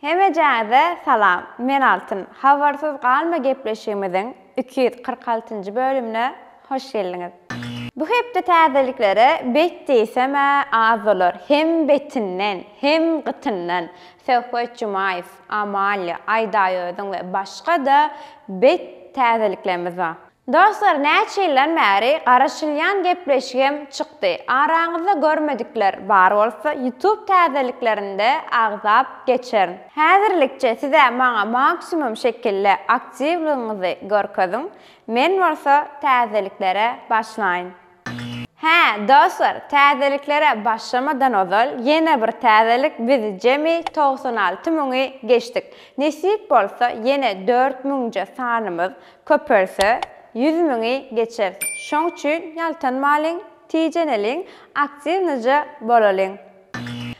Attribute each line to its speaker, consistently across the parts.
Speaker 1: Hemejänize salam men Altyn habarsyz galma gepleşigimiziň iki ýüz kyrk altynjy bölümine hoş geldiňiz. Bu hepde täzeliklere bet diýsem-ä az bolar hem betinden hem gytyndan Söhbet Jumaýew, Amalia, Aýdaýözüň we başga-da bet täzeliklerimiz bar. Dostlar näçe ýyldan bäri garaşylýan gepleşigem çykdy araňyzda görmedikler bar bolsa ýutub täzeliklerinde agzap geçerin. Häzirlikçe sizä maňa maksimum şekilde aktiwlygyňyzy görkeziň men bolsa täzeliklere başlaýyn. Hä, dostlar, täzeliklere başlamadan ozal, ýene bir täzelik, biz jemi togsan alty müňi geçdik. Nesip bolsa, ýene dört müňje sanymyz köpelse, ýüz müňi geçeris. Şoň üçin ýaltanmalyň, tijeneliň, aktiwnyja bolalyň.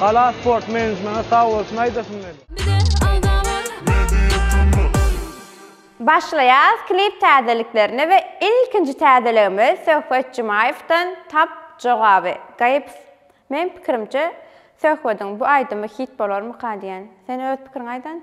Speaker 2: Gala sport menejmene sag bolsun aýdasym gelýär.
Speaker 1: Başlaýas klip täzeliklerine we ilkinji täzeligimiz Söhbet Jumaýewden Tap jogaby gaýyps Meň pikirimçe Söhbediň bu aýdymy hit bolarmyka diýen. Sen öz pikiriňi aýdan.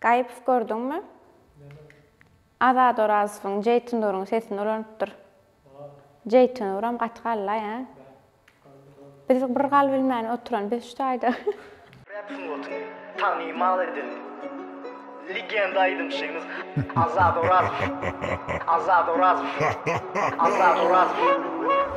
Speaker 1: Gaýypow gördüňmi? Azat Orazowyň, Jeýtnuryň sesini ulanypdyr. Jeýtnuram gaty galla ýa. Biz bir gal bilmän oturan biz şu taýda. Rap sungatyny
Speaker 3: tanymal eden legenda aýdymçymyz Azat Orazow. Azat Orazow. Azat Orazow.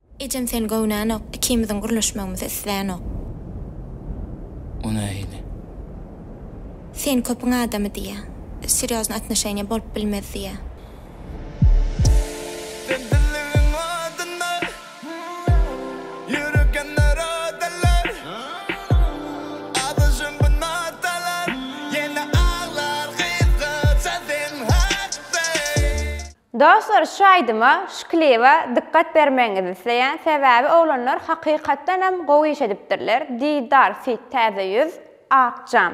Speaker 1: Ejem seni
Speaker 4: göwnänok, ikimiziň gürleşmegimizi islänok.
Speaker 5: O nähili?
Speaker 4: Sen köpüň adamy diýýä. Serýoznyý atnoşeniýa bolup bilmez diýýä. Sebitligiň adyna ýürek ýanar odalar.
Speaker 1: Azaşyn bu notalar, ýene aglar gyzgynça sen hakda. Dostlar şu aýdyma, şu kliba dykgat bermegiňizi isleýän sebäbi oglanlar hakykatdanam gowy iş edipdirler, Didar feat Täze ýüz, Ak jam.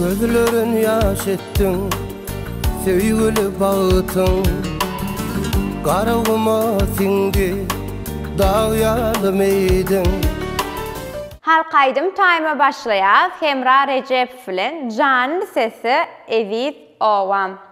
Speaker 6: Gözlerin ýaş etdiň, söýgüli bagtyň Garaguma siňdi, dag ýaly meýdiň.
Speaker 1: Halk aýdym taýyma başlaýas Hemra Rejepow bilen Janly sesi Eziz obam.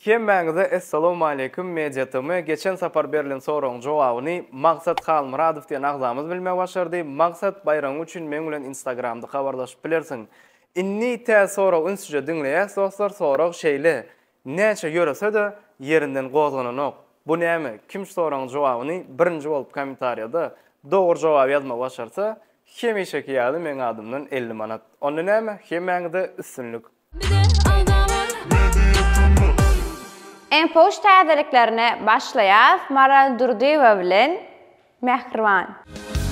Speaker 2: Hemmäňize Essalawmaleýkum Media TM geçen sapar berlen soragyň jogabyny Magsat Halmyradow diýen agzamyz bilmegi başardy. Magsat baýragyň üçin meň bilen instagramda habarlaşyp bilersiň. Indi tä sorag ünsüje diňleýäs dostlar sorag şeýle näçe ýöresede ýerinden gozgananok bu näme kim soragyň jogabyny birinji bolup komentarýada dogry jogaby ýazmagy başarsa hemişeki ýaly meň adymdan elli manat onda näme hemmäňize üstünlik.
Speaker 1: Iň puş täzeliklerine başlaýas Maral Durdyýewa bilen Mähriban.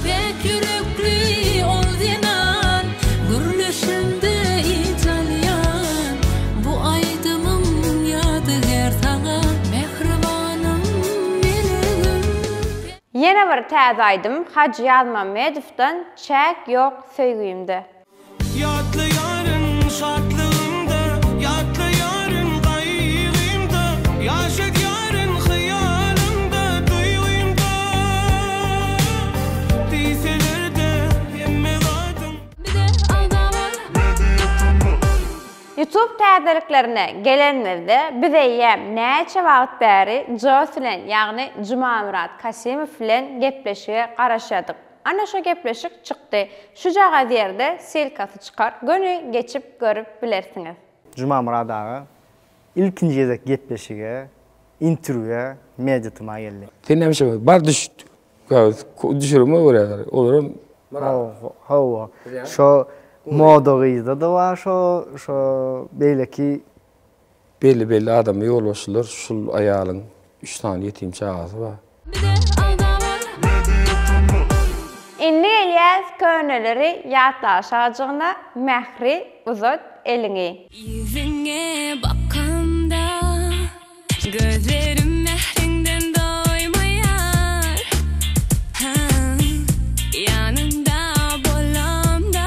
Speaker 1: Päk ýürekli
Speaker 7: ol zenan Gürleşende yç alýan Bu aýdymym ýadygär saňa Mähribanym melegiň.
Speaker 1: Ýene bir täze aýdym Hajy Ýazmamedowdan Çäk ýok söýgimde.
Speaker 8: Ýatlaýaryn şatlygymda, ýatlaýaryn gaýgymda, ýaşadýaryn hyýalymda, duýgymda. Diýseler-de hemme zadyň. Bize alda bar. Media
Speaker 1: Tmall. Youtube täzeliklerine gelenimizde biz eýýäm näçe wagt bäri Joss bilen ýagny Jumamyrat Kasimow bilen gepleşige garaşýardyk. Ana şo gepleşik çykdy. Şujagaz ýerde ssylkasy çykar, göni geçip görüp bilersiňiz. Jumamyrat aga
Speaker 9: ilkinji gezek gepleşige, interwýa Media TMA geldi. Sen näme işe bar
Speaker 10: düş düşürime görä olaram Hawa
Speaker 9: şo moda gyzda da bar şo şo beýleki Belli
Speaker 10: belli adama ýolbaşçylar şul aýalyň üç sany ýetim çagasy bar.
Speaker 1: Indi gelýäs köneleri ýatlaşajygyna Mähri uzat eliňi. Ýüzüňe
Speaker 7: bakamda gözlerim mähriňden doýmaýar Ýanyňda bolamda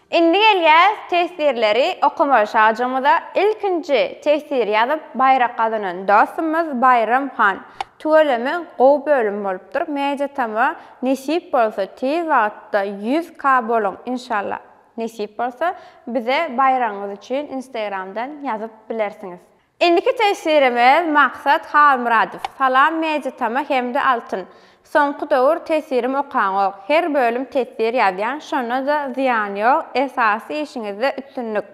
Speaker 1: Indi gelýäs teswirleri okamaga şajygymyza ilkinji teswir ýazyp baýrak gazanan dostumyz Baýram han tüweleme gowy bölüm bolupdyr media tama nesip bolsa tiz wagtda ýüz ka boluň inşallah nesip bolsa bize baýragyňyz üçin instagramdan ýazyp bilersiňiz Indiki tesirimiz Maksat Halmyradow, Salam Media Tama hem-de Altyn. Soňky döwür tesirim okaňok. Her bölüm tesir ýazýan, şonda-da zyýan ýok, esasy işiňizde üstünlik.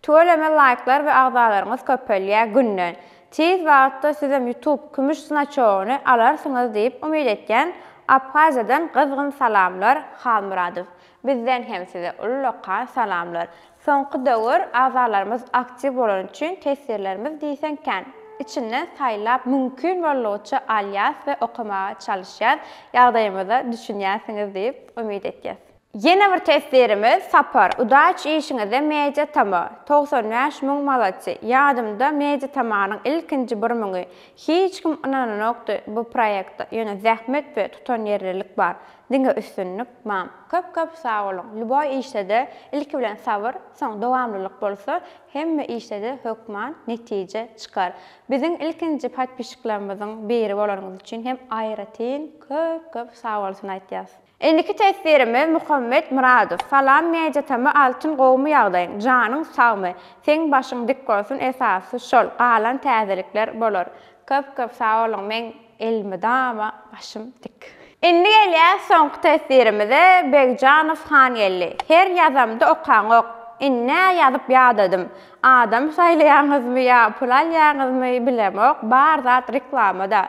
Speaker 1: Tüweleme laýklar we agzalaryňyz köpelýär günden. Tiz wagtda sizem Youtube kümüş znaçogyny alarsyňyz diýip umyt etýän. Abhaziýadan gyzgyn salamlar Halmyradow. Bizden hem size ullakan salamlar. Soňky döwür agzalarymyz aktiw bolany üçin teswirlerimiz diýseň kän. Içinden saýlap mümkin boldugyça alýas we okamaga çalyşýas, ýagdaýymyza düşünýänsiňiz diýip umyt etýäs. Ýene bir teswirimiz Sapar, udaç işiňizde Media Tama, togsan bäş müň malatsy, ýadymda Media Tamanyň ilkinji bir müňi, hiç kim ynananokdy bu proýekte, ýöne zähmet we tutanýerlilik bar, Diňe üstünlik mam. Köp köp sag boluň. Lýuboý işdede ilki bilen sabyr, soň dowamlylyk bolsa, hemme işdede hökman netije çykar. Biziň ilkinji podpişiklerimiziň biri bolanyňyz üçin hem aýratyn köp köp sag bolsun aýtýas. Indiki teswirimiz Muhammet Myradow. Salam Media-tm Altyn gowumy ýagdaýyň, janyň sagmy? Seň başyň dik bolsun esasy şol, galan täzelikler bolar. Köp köp sag boluň, meň Elmydama başym dik. Indi gelýäs soňky teswirimize, Begjanow Hangeldi. Her ýazamda okaňok. Indi nä ýazyp ýadadym. Adam saýlaýaňyzmy ýa pul alýaňyzmy bilemok, bar zat reklama-da.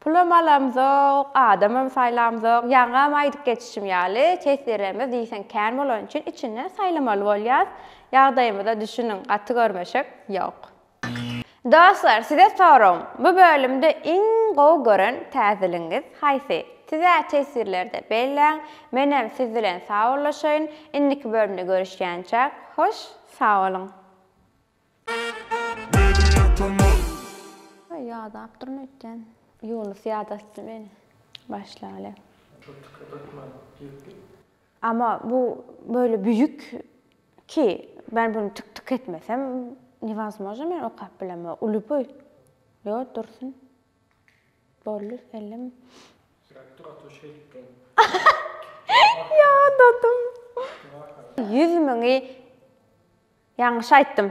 Speaker 1: Pulam alamzok, adamam saýlamzok, ýaňam aýdyp geçişim ýaly, teswirlerimiz diýseň kän bolany üçin içinden saýlamaly bolýas. Ýagdaýymyza düşüniň, gaty görmeşek ýok. Dostlar size soragym bu bölümde iň gowy gören täzeligiňiz haýsy? Size teswirlerde belläň, menem siz bilen sawollaşaýyn, indiki bölümde görüşýänçäk hoş sawolyň. Media ýadapdyryn öýtýän. Ýunus ýadatdy meni. Başlaly. Ama bu böyle büyük Ki, men buny tik tik etmesem, newazmožno men okap bilemok. Uly boý. Ýo, dursun. Boldy, elleme. Sirek dur otur şeýdip durun. Ýa, dadym. Ýüz müňi ýaňyş aýtdym.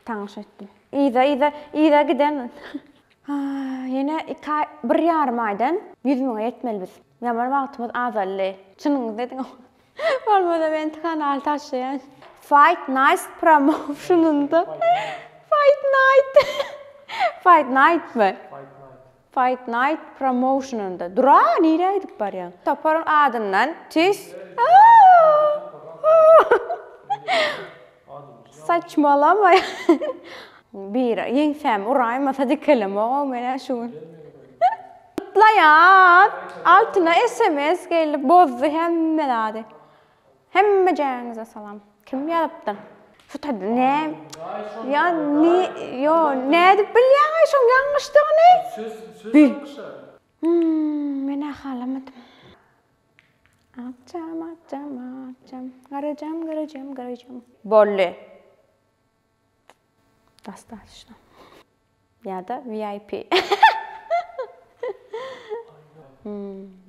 Speaker 1: Taňyş aýtdym. Yza, yza, yza giden. Ýene iki aý, bir ýarym aýdan ýüz müňe ýetmeli biz. Ýaman wagtymyz azaldy. Çynyňyzy ediň. Bolmasa men kanal taşlaýan. Fight night promoutionynda Fight night. Fight night mi? Fight night promoutionynda. Dura, nirä gidip barýaň? Toparyň adyndan tüýs. Saçmalama. Bir ýeňsämi uraýma sadikelemogam menä şu gün. Gutlaýan! Altyna sms gelip bozdy hemme zady. Hemmejäňize salam. Kim ýazypdyr? Şu taýda nä? Ýa ni ýo nädip bilýäňaý şoň ýalňyşdygyny? Söz söz ýalňyşar. Menä halamadym. Akjam, akjam, akjam. Garajam, garajam, garajam. Bolly. Dostatçno. Ýa-da VIP.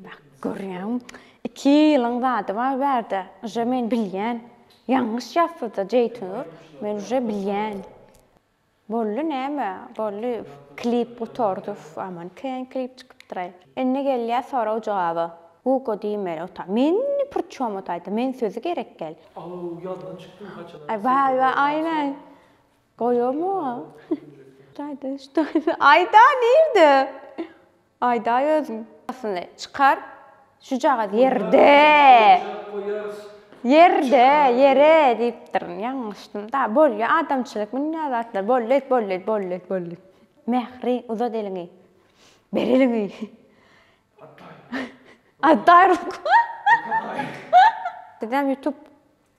Speaker 1: Bak, görýäňmi? Iki ýylyň zady bar bärde. Uje men bilýän. Ýalňyş ýazsa-da Jeýtnur, men uje bilýän. Boldy näme boldy klip gutardy uf aman kän klip çykypdyraý. Indi gelýär sorag jogaba. Guga diýmeli ota. Meni prçom otaýda men sözi gerek däl. Aw ýazdan
Speaker 11: çykdym haçana. Aý waý waý aýnaý
Speaker 1: goýamok. Aýda ştoýda aýda nirde. Aýdaý özüň asyny çykar şujagaz ýerde ýerde ýere diýipdirin ýalňyşdym da bolýa adamçylyk munýa zatlar bolýa bolýa bolýa bolýa mähri uzat eliňi ber eliňi atdaý atdaý ruku sizem ýutup